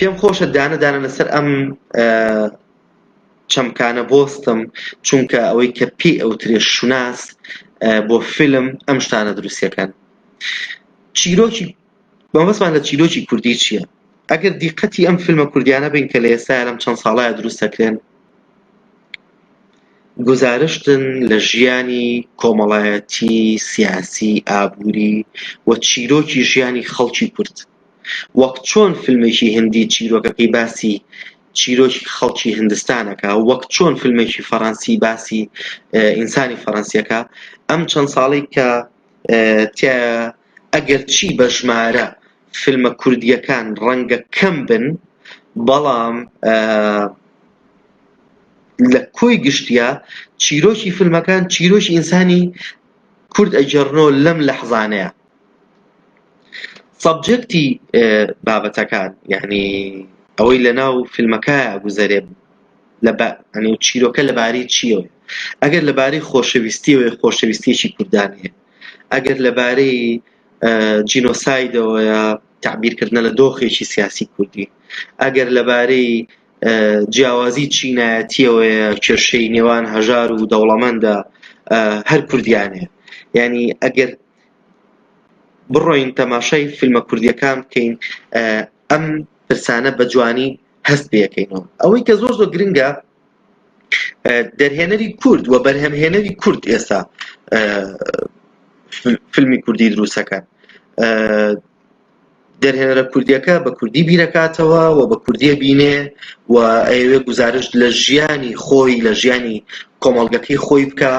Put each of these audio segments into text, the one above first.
پێم خۆشە دانە دانە لەسەر ئەم چەمکانە بۆستم چونکە ئەوەی کە پێ ئەو ترێ شوناس بۆ فیلم ئەم شتانە دروستەکەن چیرۆکی مەبەستمان لە چیرۆکی کوردی چیە؟ ئەگەر دیقەتی ئەم فیلمە کوردیانە بین کە لە ئێستایا لەم چەند ساڵەیا دروست دەکرێن گوزارشتن لە ژیانی کۆمەڵایەتی سیاسی ئابووری و چیرۆکی ژیانی خەڵکی کورد وەک چۆن فیلمێکی هندی چیرۆکەکەی باسی چیرۆکی خەڵکی هندستانەکە وەک چۆن فیلمێکی فەڕەنسی باسی ئینسانی فەڕەنسیەکە ئەم چەند ساڵی کە تیایە ئەگەرچی بە ژمارە فیلمە کوردییەکان ڕەنگە کەم بن بەڵام لە کۆی گشتیا چیرۆکی فیلمەکان چیرۆکی ئینسانی کورد ئەجێڕنۆ لەم لەحزانەیە سەبجەکتی بابەتەکان یعنی ئەوەی لە ناو فیلمەکە گوزەرێ لەبا ئەنی و چیرۆکە لەبارەی چییەوەیە؟ ئەگەر لەبارەی خۆشەویستییەوەیە، خۆشەویستییەکی کوردانە هەیە. ئەگەر لەبارەی ئە جینۆسایدەوەیە، تەعبیرکردنە لە دۆخێکی سیاسی کوردی. ئەگەر لەبارەی ئە جیاوازی چینایەتییەوەیە، کێشەی نێوان هەژار و دەوڵەمەندە، ئە هەر کوردیان هەیە. یانی ئەگەر بڕۆین تەماشای فیلمە کوردییەکان بکەین، ئە ئەم پرسانە بە جوانی. هەست پێەکەینەوە ئەوەی کە زۆر زۆر گرنگە دەرهێنەری کورد و بەرهەمهێنەری کورد ئێستا فیلمی کوردی دروستەکە دەرهێنەرە کوردیەکە بە کوردی بیرەکاتەوە و بە کوردیە بینێ و ئەوێ گزارش لە ژیانی خۆی لە ژیانی کۆمەڵگەکەی خۆی بکە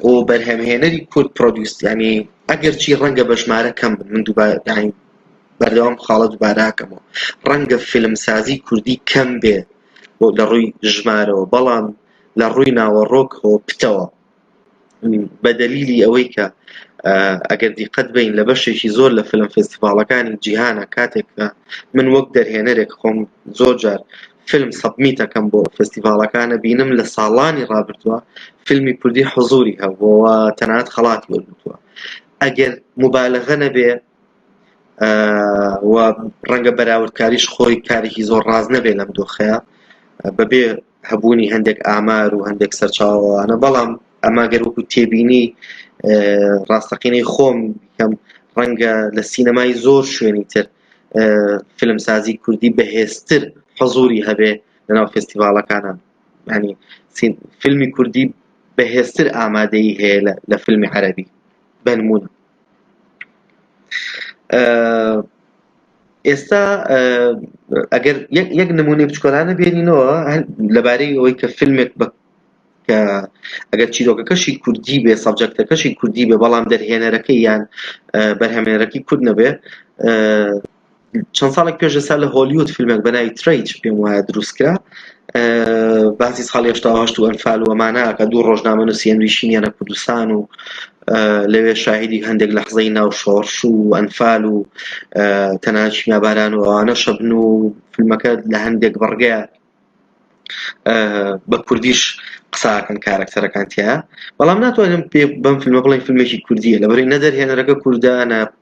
و بەرهەمهێنەری کورد پرۆدیوسیانی ئەگەرچی ڕەنگە بەژمارە کەم من دووبارەدانی بەردەوام خاڵە دوباراکەمەوە ڕەنگە فیلمسازی کوردی کەم بێ لە ڕووی ژمارەوە بەڵام لە ڕووی ناوەڕۆکەوە پتەوە بە دەلیلی ئەوەی کە ئەگەر دیقەت بین لە بەشێکی زۆر لە فیلم فستیڤاڵەکانی جیهانە کاتێک من وەک دەرهێنەرێک خۆم زۆر جار فیلم سەبمیتەکەم بۆ فستیڤاڵەکانە بینم لە ساڵانی ڕابردووە فیلمی کوردی حزوری هەبووەوە تەنات خەڵاتی وەرگتووە ئەگەر مبالغە نەبێ و ڕەنگە بەراوردکاریش خۆی کارێکی زۆر ڕاز نەبێت لەم دۆخەیە بەبێ هەبوونی هەندێک ئامار و هەندێک سەرچاوانە بەڵام ئەما گەر وەکو تێبینی ڕاستەقینەی خۆم کەم ڕەنگە لە سینەمای زۆر شوێنی تر فیلمسازی کوردی بەهێزتر حەزوری هەبێ لەناو فستیڤالەکانە ینی فیلمی کوردی بەهێزتر ئامادەی هەیە لە فیلمی عەربی بەنمونە ئێستا ئەگەر یەک نمونی بچکۆلانە بێنینەوە لەبارەی ئەوەی کە فیلمێک بە کە ئەگەر چیرۆکەکەشی کوردی بێ سەبجەکتەکەشی کوردی بێ بەڵام دەرهێنەرەکەی یان بەرهەمێنەرەکەی کورد نەبێ چەند ساڵێک پێش ئێستا لە هۆلیود فیلمێک بە ناوی ترەیج پێم وایە دروستکرا باسی ساڵ هێشتا هەشت و ئەنفال وەماناکە دوو ڕۆژنامە نووسی ئەنویشینیانە کوردستان و لەوێ شاهدی هەندێک لە حزەی ناو شۆڕش و ئەنفال و تەنانچی ناباران و ئەوانە شەبن و فیلمەکە لە هەندێک بڕگە بە کوردیش قساکەن کارەکتەرەکان تیا بەڵام ناتوانم پێ بەم فیلمە بڵێن فیلمێکی کوردیە لەبەری نەدەرهێنەرەکە کوردانە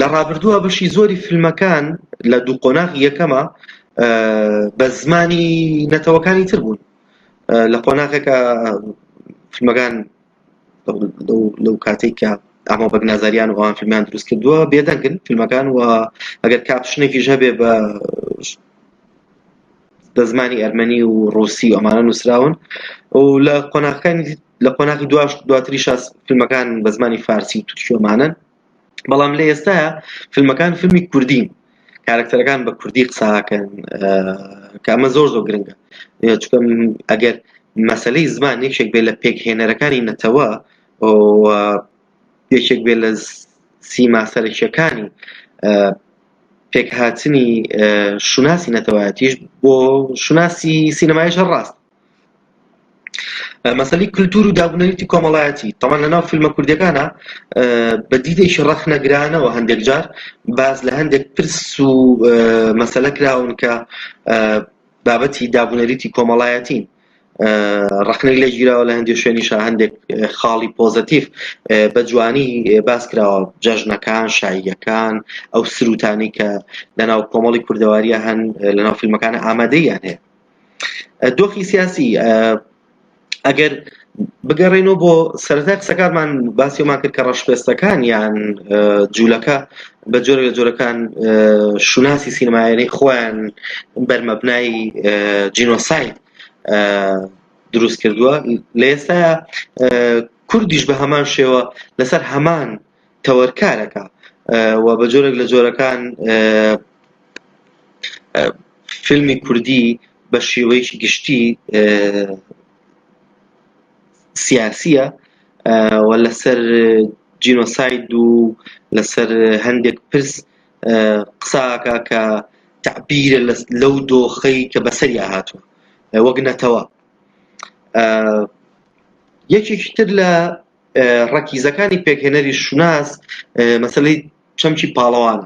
لە ڕابردووە بەشی زۆری فیلمەکان لە دوو قۆناغ یەکەمە بە زمانی نەتەوەکانی تر بوون لە قۆناغێکە فیلمەکان لەو کاتێک کە ئەمە بەگ نازاریان و ئەوان فیلمیان دروست کردووە بێدەنگن فیلمەکان و ئەگەر کاپشنێکیش هەبێ بە بە زمانی ئەرمەنی و ڕوسی ئەمانە نووسراون و لە قۆناغەکانی لە قۆناغی دواش دواتری شاس فیلمەکان بە زمانی فارسی و تورکیۆمانن بەڵام لە ئێستا فیلمەکان فیلمی کوردین کارکتەرەکان بە کوردی قساکەن کامە زۆر زۆر گرنگە چکم ئەگەر مەسلەی زمان یەکێک بێ لە پێکهێنەرەکانی نەتەوە یەکێک بێت لە سیما سەرەکییەکانی پێکهاتنی شوناسی نەتەوایەتیش بۆ شوناسی سینەمایش هەر ڕاست مەسەلی کللتور و دابنەویتی کۆمەڵایەتی تەمان لە ناو فیلمە کوردەکانە بە دیدێکی ڕەخنەگرانەوە هەندێک جار باز لە هەندێک پرس و مەسەلە کراون کە بابەتی دابنەریتی کۆمەڵایەتین ڕەخنەی لێ گیراوە لە هەندێک شوێنیشا هەندێک خاڵی پۆزەتیف بە جوانی باس کراوە جەژنەکان شاییەکان ئەو سروتانی کە لەناو کۆمەڵی کوردەواریە هەن لەناو فیلمەکان ئامادەیان هەیە دۆخی سیاسی ئەگەر بگەڕێنەوە بۆ سەرەتا قسەکانمان باسیۆمان کرد کە ڕەشپێستەکان یان جوولەکە بە جۆرە لە جۆرەکان شوناسی سینەمایانەی خۆیان بەرمەبنای جینۆساید دروست کردووە لە ئێستا کوردیش بە هەمان شێوە لەسەر هەمان تەوەرکارەکە و بە جۆرێک لە جۆرەکان فیلمی کوردی بە شێوەیەکی گشتی سیاسیە و لەسەر جینۆساید و لەسەر هەندێک پرس قسە ئاکا کە تەعبیرە لەو دۆخەی کە بەسەریا هاتوە وەک نەتەوە یەکێکی تر لە ڕەکیزەکانی پێکهێنەری شوناس مەسلەی چەمکی پاڵەوان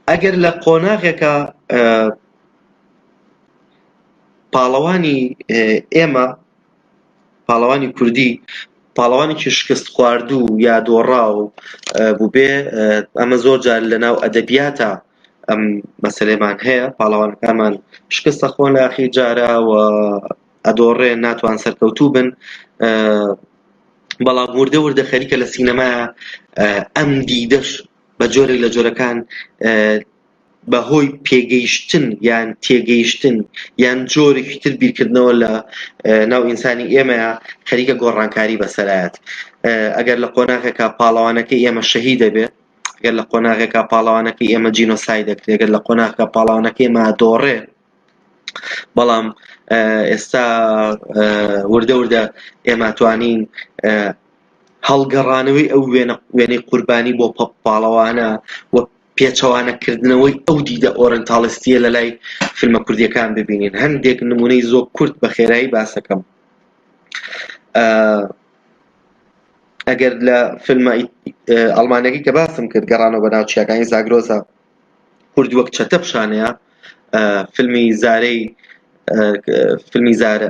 ئەگەر لە قۆناغێکە پاڵەوانی ئێمە، پاڵەوانی کوردی، پاڵەوانێکی شکستخواردوو یا دۆڕاو بووبێ، ئەمە زۆر جار لەناو ئەدەبیاتا ئەم مەسەلەیەمان هەیە، پاڵەوانەکانمان شکست ئەخۆن لە ئاخری جارا و ئەدۆڕێن، ناتوان سەرکەوتوو بن، بەڵام وردە وردە خەریکە لە سینەما ئەم دیدەش بە جۆرێک لە جۆرەکان بە هۆی پێگەیشتن یان تێگەیشتن یان جۆرێکی تر بیرکردنەوە لە ناو ئینسانی ئێمەیە خەریکە گۆڕانکاری بەسەرایەت ئەگەر لە قۆناغێکا پاڵەوانەکە ئێمە شەهی دەبێت گەر لە قۆناغێکا پاڵەوانەکە ئێمە جینۆسای دەکرێت گەر لە قۆناغکە پاڵاوانەکە ئێمە دۆڕێ بەڵام ئێستا وردە وردە ئێماتوانین هەڵگەڕانەوەی ئەو وێنەی قوربانی بۆ پاڵەوانە و پێچەوانە کردنەوەی ئەو دیدە ئۆرێنتاڵیستیە لە لای فیلمە کوردیەکان ببینین هەندێک نمونەی زۆ کورت بە خێرایی باسەکەم ئەگەر لە فیلمە ئەڵمانەکەی کە باسم کرد گەڕانەوە بە ناوچیەکانی زاگرۆزە کورد وەک چەتە پیشانەیە فیلمی زارەی فیلمی زارە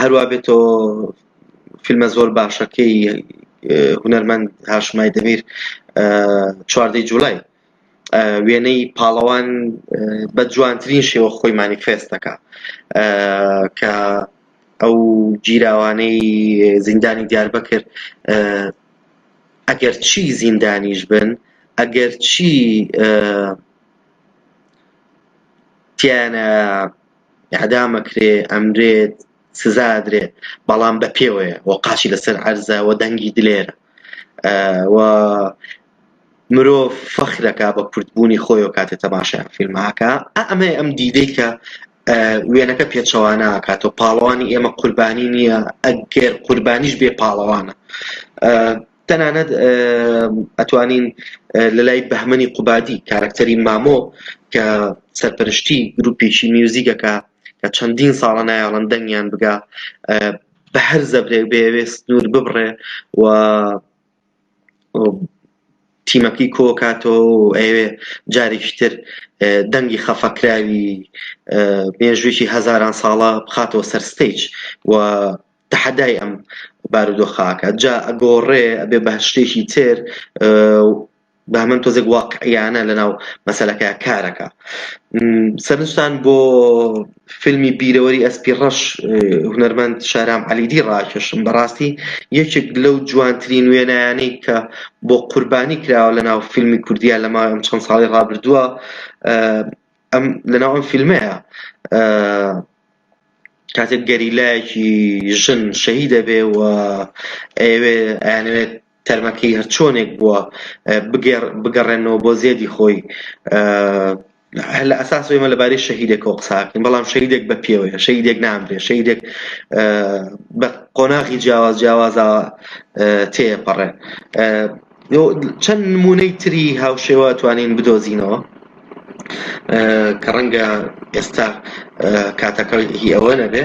هەروا بێتەوە فیلمە زۆر باشەکەی هونەرمەند هاشمای دەمیر چواردەی جوولای وێنەی پاڵەوان بە جوانترین شێوە خۆی مانیفێست دەکا کە ئەو گیراوانەی زیندانی دیار بکرد ئەگەر چی زیندانیش بن ئەگەر چی تیایانە ئیعدام ئەکرێ ئەمرێت سزا ئەدرێ بەڵام بە پێوەیە و قاچی لەسەر عەرزە و دەنگی دلێر و مرۆڤ فەخرەکە بە کوردبوونی خۆی و کاتێ تەماشای ئەم فیلمەکە ئەمە ئەم دیدەی کە وێنەکە پێچەوانە ئاکات و پاڵەوانی ئێمە قوربانی نییە ئەگەر قوربانیش بێ پاڵەوانە تەنانەت ئەتوانین لە لای بەهمەنی قوبادی کارکتەری مامۆ کە سەرپەرشتی گروپێکی میوزیکەکە کە چەندین ساڵە نایاڵن دەنگیان بگا بە هەر زەبرێک بێوێ سنوور ببڕێ و تیمەکەی کۆکاتەوە ئەوێ جارێکی تر دەنگی خەفەکراوی مێژوویی هەزاران ساڵە بخاتەوە سەر ستیج و تەحەدای ئەم بارودۆخە ئەکات جا ئەگۆڕێ ئەبێ بە شتێکی تر و بە هەمەن تۆزێک واقعیانە لەناو مەسەلەکە کارەکە سەرنجتان بۆ فیلمی بیرەوەری ئەسپی ڕەش هونەرمەند شارام علیدی ڕاکێشم بەڕاستی یەکێک لەو جوانترین وێنایانەی کە بۆ قوربانی کراوە لەناو فیلمی کوردیا لەما ئەم چەند ساڵی ڕابردووە ئەم لەناو ئەم فیلمەیە کاتێک گەریلایەکی ژن شەهی دەبێ و ئەوێ ئەیانەوێت تەرمەکەی هەرچۆنێک بووە بگەڕێنەوە بۆ زێدی خۆی هەر لە ئەساس ئێمە لەبارەی شەهیدێکەوە قساکەین بەڵام شەیدێک بە پێوەیە شەیدێک نامرێ شەیدێک بە قۆناغی جیاواز جیاوازە تێپەڕێ چەند نمونەی تری هاوشێوە توانین بدۆزینەوە کە ڕەنگە ئێستا کاتەکە هی ئەوە نەبێ